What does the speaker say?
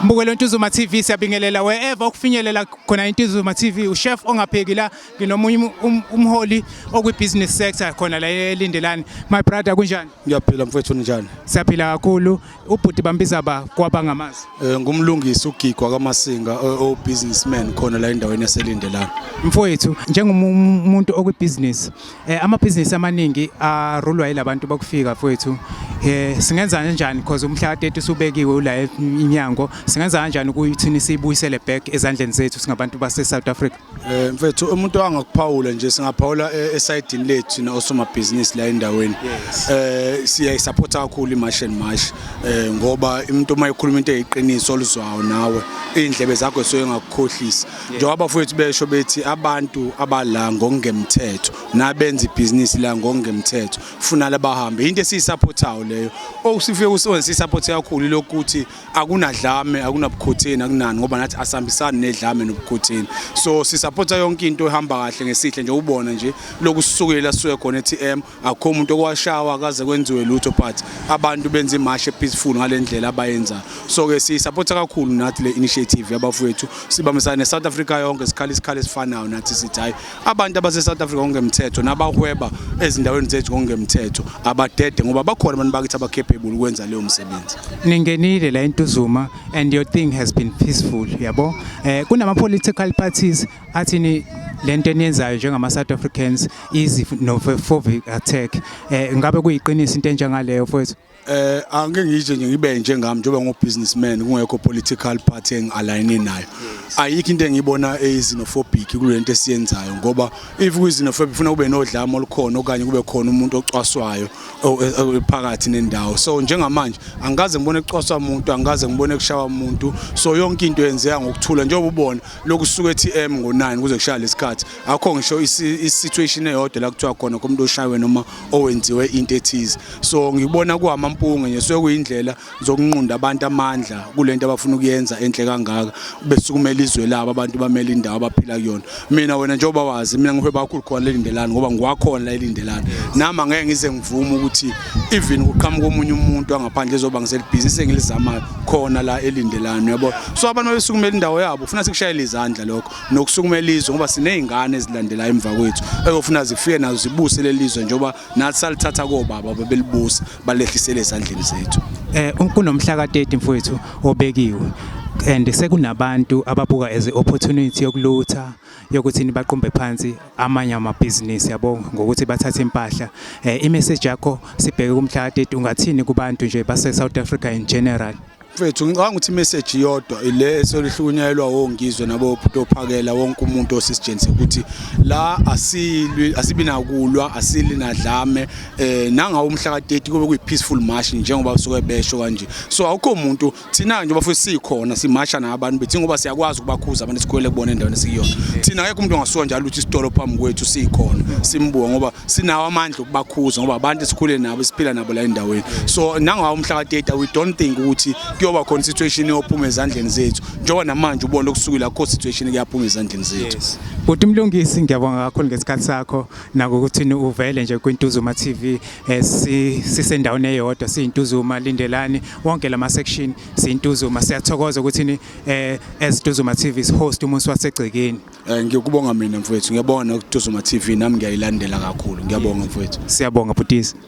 Mbukelo weNtuzuma TV siyabingelela wherever okufinyelela khona iNtuzuma TV uChef ongapheki la nginomunye um, umholi okwibusiness sector khona la elindelani my brother kunjani Ngiyaphila mfethu njani Siyaphila kakhulu ubhuti bambiza ba kwaba ngamazi Eh ngumlungisi ugigwa kaMasinga o businessman khona la endaweni yaselindelani Mfowethu njengomuntu okwibusiness Eh amabhizinisi amaningi arulwa ilabantu bokufika mfowethu. Eh singenza kanjani because umhla ka-30 usubekiwe ula e-, inyango. Singenza kanjani ukuthi sibuyisele back ezandleni zethu singabantu base South Africa? Eh mfethu umuntu angakuphawula nje singaphawula e-, esayidini lethu na osomabhizinisi la endaweni. Eh siya support kakhulu iMarsh and Marsh eh ngoba umuntu uma ekhuluma into eyiqiniso oluzwayo nawe indlebe zakho soyengakukhohlisa. njengoba abafowethu besho bethi abantu abala ngokungemthetho nabenza ibhizinisi la ngokungemthetho funala bahambe into esiyisapothayo leyo okusifike kusebenza siyisapothe kakhulu lokuthi akunadlame akunabukhotheni akunani ngoba nathi asihambisani nedlame nobukhotheni so sisapotha yonke into ehamba kahle ngesihle nje ubona nje lokusukela suke khona eTM akukho umuntu okwashawa kaze kwenziwe lutho but abantu benza imashi epeaceful ngale ndlela abayenzayo so-ke siyisapotha kakhulu nathi le initiative yabafowethu sibambisana ne-south africa yonke sikhala isikhala esifanayo nathi sithi hhayi abantu abase-south africa ngokungemthetho nabahweba ezindaweni zethu ngokungemthetho abadede ngoba bakhona abantu bakithi abacapable ukwenza leyo msebenzi ningenile la entuzuma and your thing has been peaceful yabo um eh, kunama-political parties athini lento eniyenzayo njengama South Africans easy novophobic attack eh ngabe kuyiqiniso into enjengaleyo mfowethu eh angike ngije nje ngibe nje ngami njengoba ngo businessman kungekho political party engialign nayo ayikho into engiyibona eyizinophobic kulento esiyenzayo ngoba if kuyizinophobic ufuna kube nodlame olukhona okanye kube khona umuntu ocwaswayo phakathi nendawo so njengamanje angikaze ngibone kucwaswa umuntu angikaze ngibone kushawa umuntu so yonke into yenzeka ngokuthula njengoba ubona lokusuka eTM ngo9 kuze kushaya lesikhathi akho ngisho isituation eyodwa la kuthiwa khona komuntu oshaywe noma owenziwe into ethize so ngibona kuhama mpunge nje so kuyindlela zokunqunda abantu amandla kulento abafuna ukuyenza enhle kangaka besukumela izwe labo abantu bamele indawo abaphila kuyona mina wena njengoba wazi mina ngihweba kakhulu khona lelindelani ngoba ngiwakhona lelindelani nami angeke ngize ngivume ukuthi even kuqhamuka omunye umuntu angaphandle ezoba ngiselibhizinisi engilizamayo khona la elindelani yabo so abantu babesukumela indawo yabo ufuna sikushayele izandla lokho nokusukumela izwe ngoba sinezingane ezilandela emva kwethu eyofuna zifike nazo zibuse lelizwe njoba nathi salithatha kobaba babelibusa balehlisele ezandleni zethu eh kunomhla ka30 mfowethu obekiwe and sekunabantu ababuka as opportunity yokulutha yokuthi nibaqumbe phansi amanye amabhizinisi yabo ngokuthi bathathe impahla eh imessage yakho sibheke kumhla ka-30 ungathini kubantu nje base South Africa in general mfethu ngicabanga ukuthi imessage yodwa ile esolihlukunyelwa wongizwe nabo kutophakela wonke umuntu osisijeni ukuthi la asilwi asibi nakulwa asili nadlame eh nanga umhla ka30 kube kuyi peaceful march njengoba usuke besho kanje so awukho umuntu thina nje bafethu sikhona simasha nabantu bethi ngoba siyakwazi ukubakhuza abantu esikhwele kubona endaweni esikuyona thina akekho umuntu ongasuka njalo ukuthi isitolo phambi kwethu sikhona simbuka ngoba sinawo amandla okubakhuza ngoba abantu esikhule nabo siphila nabo la endaweni so nangawo umhla ka-30 we don't think ukuthi kuyoba khona situation eyophuma ezandleni zethu njengoba namanje ubona okusukile akho situation kuyaphuma ezandleni zethu Bhuti Mlungisi ngiyabonga kakhulu ngesikhathi sakho nakukuthi uvele nje kwiNtuzuma TV eh, sisendaweni eyodwa siyintuzuma lindelani wonke lama section sintuzuma siyathokoza ukuthi ni eh as Tuzuma TV is host umuntu wasegcekeni eh ngiyokubonga mina mfowethu ngiyabona ukuthi Tuzuma TV nami ngiyayilandela kakhulu ngiyabonga mfowethu siyabonga butisi